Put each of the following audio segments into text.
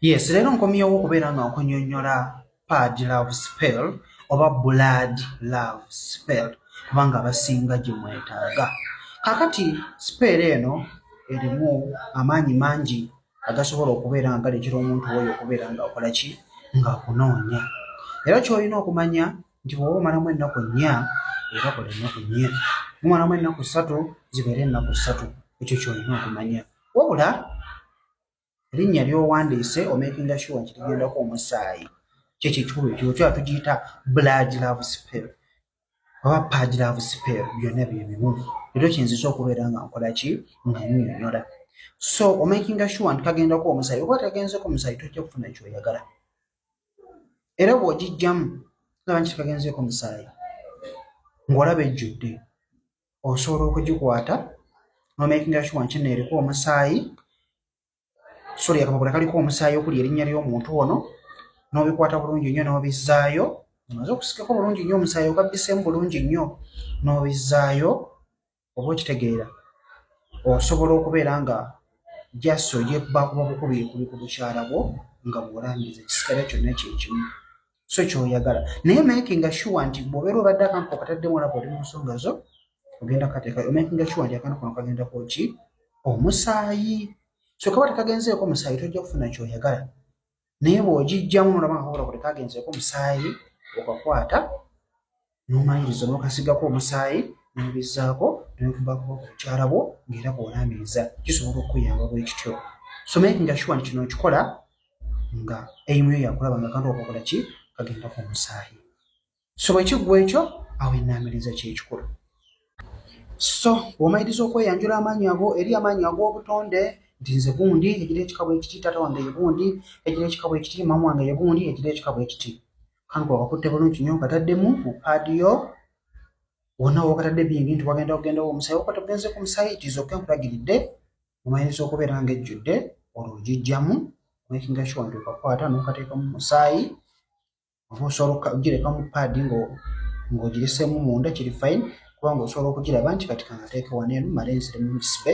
yes leero nkomyewo okubeera nga nkunyonyola pad love spell oba blood love spell kubanga abasinga gye mwetaaga kakati spell eno erimu amaanyi mangi agasobola okubeera nga galetera omuntu oyo okubeera nga akola ki nga akunoonya era kyolina okumanya nti bwoba omalamu ennaku nnya era kola ennaku nnya mumalamu ennaku ssatu zibeere ennaku ssatu ekyo kyolina okumanya wabula erinnya ly'owandiise omakinga sure nti ligendako omusaayi kyekikulu ekyo kyoba tugiyita blood love spell oba pad love spell byonna bye bimu ekyo kiyinzisa okubeera nga nkola ki nga nyonyola so omakinga sure nti kagendako omusaayi oba tagenzeko omusaayi tojja kufuna kyoyagala era bw'ogijjamu laba nti kagenzeeko omusaayi ng'olaba ejjudde osobola okugikwata nomakinga sure nti no eriko omusaayi sori akapapula kaliko omusaayi okuli erinnya ly'omuntu ono n'obikwata bulungi nnyo n'obizzaayo omaze okusikako bulungi nnyo omusaayi ogabbiseemu bulungi nnyo n'obizzaayo oba okitegeera osobola okubeera nga just ogyekubakuba bukubi ekuli ku bukyala bwo nga bwolambiza ekisigala kyonna kyekimu so kyoyagala naye makinga sure nti bwobeera obadde akantu kokataddemu olaba oli mu nsonga zo ogenda kateeka makinga sure nti akantu kono kagenda koki omusaayi so kaba tekagenzeeko omusaayi tojja kufuna kyoyagala naye bwogijjamu nolaba nga kakola kuli kagenzeeko omusaayi okakwata n'omaliriza n'okasigako omusaayi n'obizzaako n'okubakuba ku mukyala bwo ng'era bw'olaamiriza kisobola okukuyamba bwe kityo so making sure nti kino okikola nga eimu yo yakulaba nga kantu okakola ki kagenda ku musaayi so bwe kiggwa ekyo awo ennaamiriza kyekikulu so bw'omaliriza okweyanjula amaanyi ago eri amaanyi ag'obutonde nti nze gundi egira ekikabo ekiti taata wange ye gundi egira ekikabo ekiti maama wange ye gundi egira ekikabo ekiti kanko wakakutte bulungi nyo nkataddemu mu paadi yo wonna wakatadde bingi nti wagenda kugenda wo omusayi wakati ogenze ku musayi tizoke nkulagiridde omayinza okubeera nga ejjudde olwo ogijjamu makinga sure nti okakwata nokateekamu musaayi oba osobola okugireka mu paadi ng'ogireseemu munda kiri fine kubanga osobola okugiraba nti kati kangateeke waneeno male nziremu ngisbe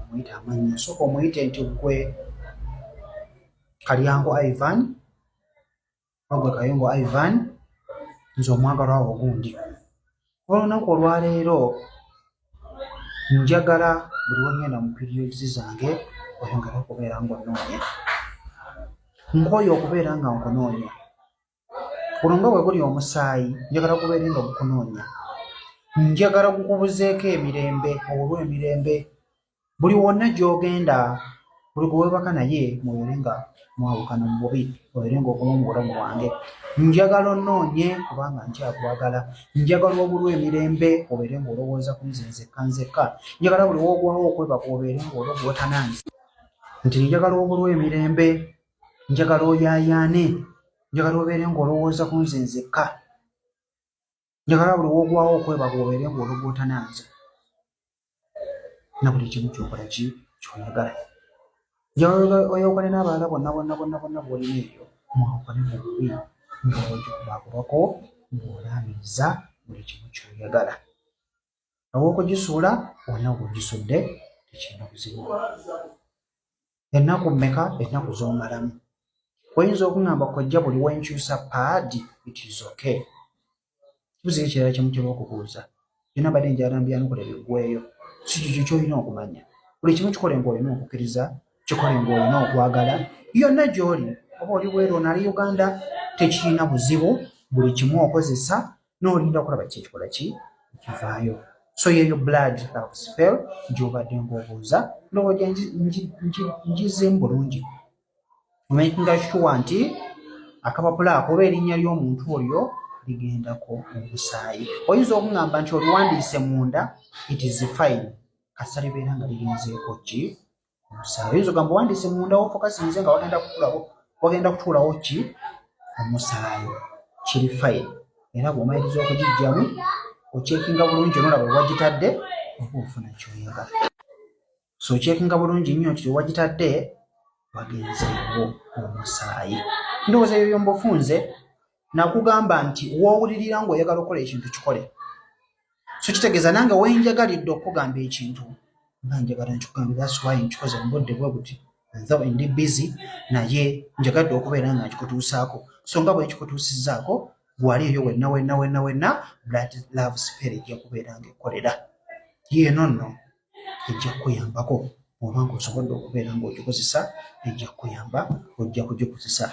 omuyita amannya sooka omuyite nti gwe kalyango ivan wagwe kayongo ivan nze omwagalwa wo ogundi olunaku olwaleero njagala buli wengenda mu periodsi zange oyongere okubeera ngaonoonya nkooyo okubeera nga nkunoonya guno nga bwe guli omusaayi njagala kubeere nga gukunoonya njagala gukubuzeeko emirembe olw emirembe buli wonna gy'ogenda buli gwewebaka naye mubeere nga mwawukana mu bubi obeere nga okuma mu bulamu bwange njagala onoonye kubanga nkyakwagala njagala obulw emirembe obeere nga olowooza ku nze nzekka nzekka njagala buli wogwawo okwebaka obeere nga ologwotanange nti njagala obulw emirembe njagala oyayaane njagala obeere ng'olowooza ku nze nzekka njagala buli wogwawo okwebaga obeere ng'ologootananze na buli kimu kyokola ki kyoyagala njagala oyawukane n'abalala bonna bonna bonna bonna bwolina ebyo mwawukane mu bubi ng'ogikulakubako ng'olaamiriza buli kimu kyoyagala awokugisuula olina gwogisudde tekirina buzibu ennaku mmeka ennaku z'omalamu oyinza okuŋamba kojja buli wenkyusa paadi it is okay kibuzo ekirala kyemutera okubuuza byona mbadde njalambyanokola biggweyo si kikyo kyolina okumanya buli kimu kikole ngaolina okukkiriza kikole ngaolina okwagala yonna gyoli oba oli bweru onali uganda tekirina buzibu buli kimu okozesa nolinda okulaba ki ekikola ki ekivaayo so yeyo blood love spell gyobadde ngaobuuza ndowooja ngizeemu bulungi omakinga shuwa nti akapapula ako oba erinnya ly'omuntu oyo ligendako omusaayi oyinza okuŋamba nti oliwandiise munda it is fine kasita libeera nga lirinzeeko ki omusaayi oyinza ogamba wandiise munda wofokasinze nga wagenda kutulawo wagenda kutuulawo ki omusaayi kiri fayini era bwomaliriza okugijjamu okyekinga bulungi onolaba wewagitadde oba ofuna kyoyagala so okyekinga bulungi nnyo nti wewagitadde wagenzeewo omusaayi ndowooza ebyo byomba ofunze nakugamba nti wowulirira nga oyagala okukola ekintu kikole so kitegeeza nange wenjagalidde okukugamba ekintu nga njagala nkikugamba thats why nkikoze mubudde bwe buti though ndi busy naye njagadde okubeera nga nkikutuusaako so nga bwekikutuusizaako gwali eyo wenna wenna wenna wenna blood love spirit yakubeera nga ekkolera yeeno nno ejja kukuyambako oba ng'osobodde okubeera ng'ogikozesa ejja kukuyamba ojja kugikozesa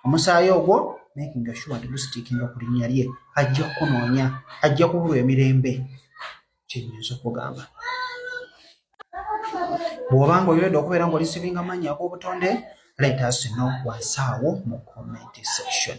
omusaayi ogwo making sure nti gusitiikinga ku linnya lye ajja kukunoonya ajja kubulwa emirembe kyenyinza okugamba bw'oba ng'oyolede okubeera ng'oli sivinga mannya ag'obutonde let us know wansi awo mu comment section